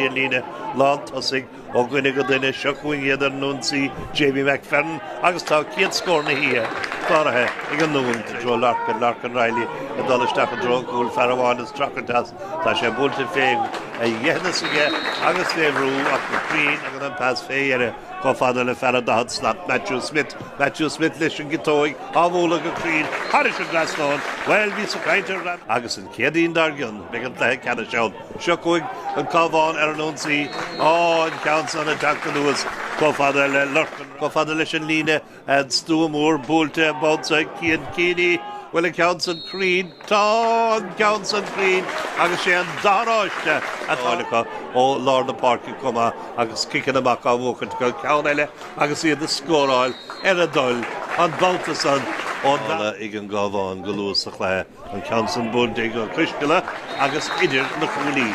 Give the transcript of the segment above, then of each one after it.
Cúrsaí ar líne lán tosaigh ó dhuine go duine, seo chugainn iad ar an ionsaí Jamie McFerran agus tá chéad scór na hoíche cláraithe ag an nDún i dtreo Lorcán, Lorcán Reilly ag dul isteach i dtreo an chúil, fear amháin ag streachailt as, tá sé buailte fé dheithneas aige agus fé bhrú ach go cruinn agus an pas fé dheireadh chomh fada le fear an daichead slat, Matthew Smith, Matthew Smith leis an gciotóig á bhualadh go cruinn thairis an trasnán, bhuel bhí sé ag caint ar RnaG agus an Chéadaoin dár gcionn beidh an cluiche ceannais ann. Seo chugainn an Cabhán ar an ionsaí, ámh, an ceann san ag teacht anuas chomh fada le Lorcán, chomh fada leis an líne an stua mór buailte an babhta san Cian Keaney. Bhuel, an ceann san cruinn, tá an ceann san cruinn agus sé an damáiste atá á fháil acu ó lár na páirce chomh maith agus ciceanna amach á bhuachaint acu, ceann eile agus iad ag scóráil ar a dtoil an babhta san ón dara ag an gCabhán go luath sa chluiche. An ceann san buailte go coisceanna agus idir na cuaillí.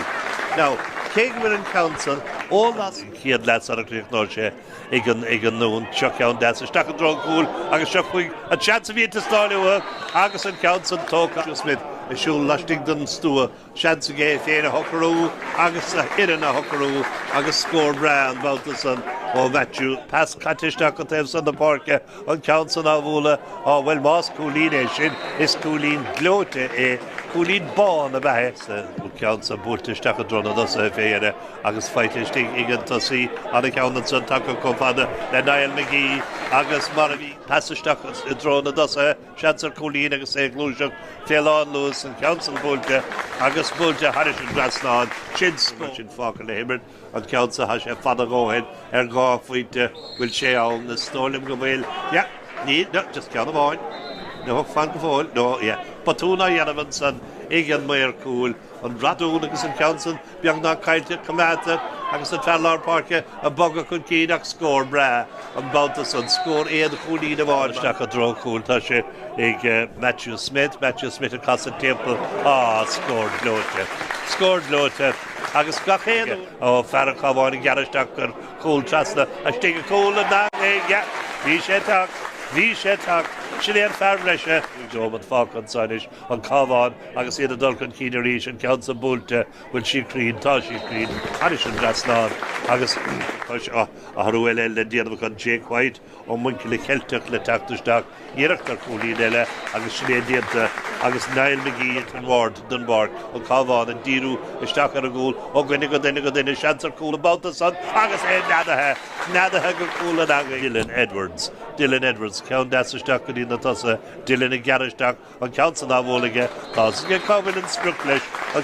Now, cé go bhfuil an ceann san ó las an chéad leath sara gcríochnóidh sé ag an ag an nDún, seo ceann deas isteach i dtreo an chúil agus seo chuig an seans a bhí ag teastáil uathu agus an ceann san tógtha agus Smith ag siúl laistigh den stua. seans aige é féin a shocrú agus a fhoireann a shocrú agus scór breá an babhta san ó Matthew. Pas caite isteach go taobh san na páirce, an ceann san á bhualadh, á bhuel más cúilín é sin is cúilín gleoite é, cúilín amháin ab ea é, an ceann san buailte isteach i dtreo na dtosaithe fé dheireadh agus faighte istigh ag an tosaí an ceann san tagtha chomh fada le Niall McGee agus mar a bhí. Pas isteach i dtreo na dtosaithe. Seans ar chúilín agus é ag gluaiseacht fé lán luas, an ceann san buailte agus buailte thairis an trasnán, sin scór! Sin fágtha le himirt, an ceann san tá sé fada dhóthain ar dhá phointe, bhfuil sé ann? Is dóigh liom go bhfuil. Yeah. Níl. No. Just ceann amháin. No. Fan go fóill. No. Yeah. Botún á dhéanamh ansan ag an maor cúil. an radún agus an ceann san beagnach caillte coimeádta agus an fear lár páirce ag bogadh chun cinn ach scór breá an babhta san, scór aon chúilín amháin isteach i dtreo chúil. Tá sé ag Matthew Smith, Matthew Smith ag casadh timpeall, á, scór gleoite, scór gleoite agus gach aon uair, ó, fear an Chabháin ag gearradh isteach gur chúl trasna istigh i gcúl na heangaí, yeah, bhí sé tagtha, bhí sé tagtha, sin é an fear breise, níl dearmad fágtha anso anois. an Cabhán agus iad ag dul chun cinn arís, an ceann san buailte, bhfuil sí cruinn, tá sí cruinn, thairis an dtrasnán agus tá athrú eile le déanamh acu an Jake White ó Muinchille Ceilteach le teacht isteach, iarracht ar chúilín eile agus sin é déanta agus Niall McGee ins an Ward, Dunbark, an Cabhán, ag díriú isteach ar an gcúl, ó dhuine go duine go duine, seans ar chúl an babhta san agus é neadaithe, neadaithe go cúl na heangaí, Dylan Edwards, Dylan Edwards, ceann deas isteach go dtí na tosaithe, Dylan ag gearradh isteach, an ceann san á bhualadh aige. Tá a fhios aige cá bhfuil an sprioc leis an.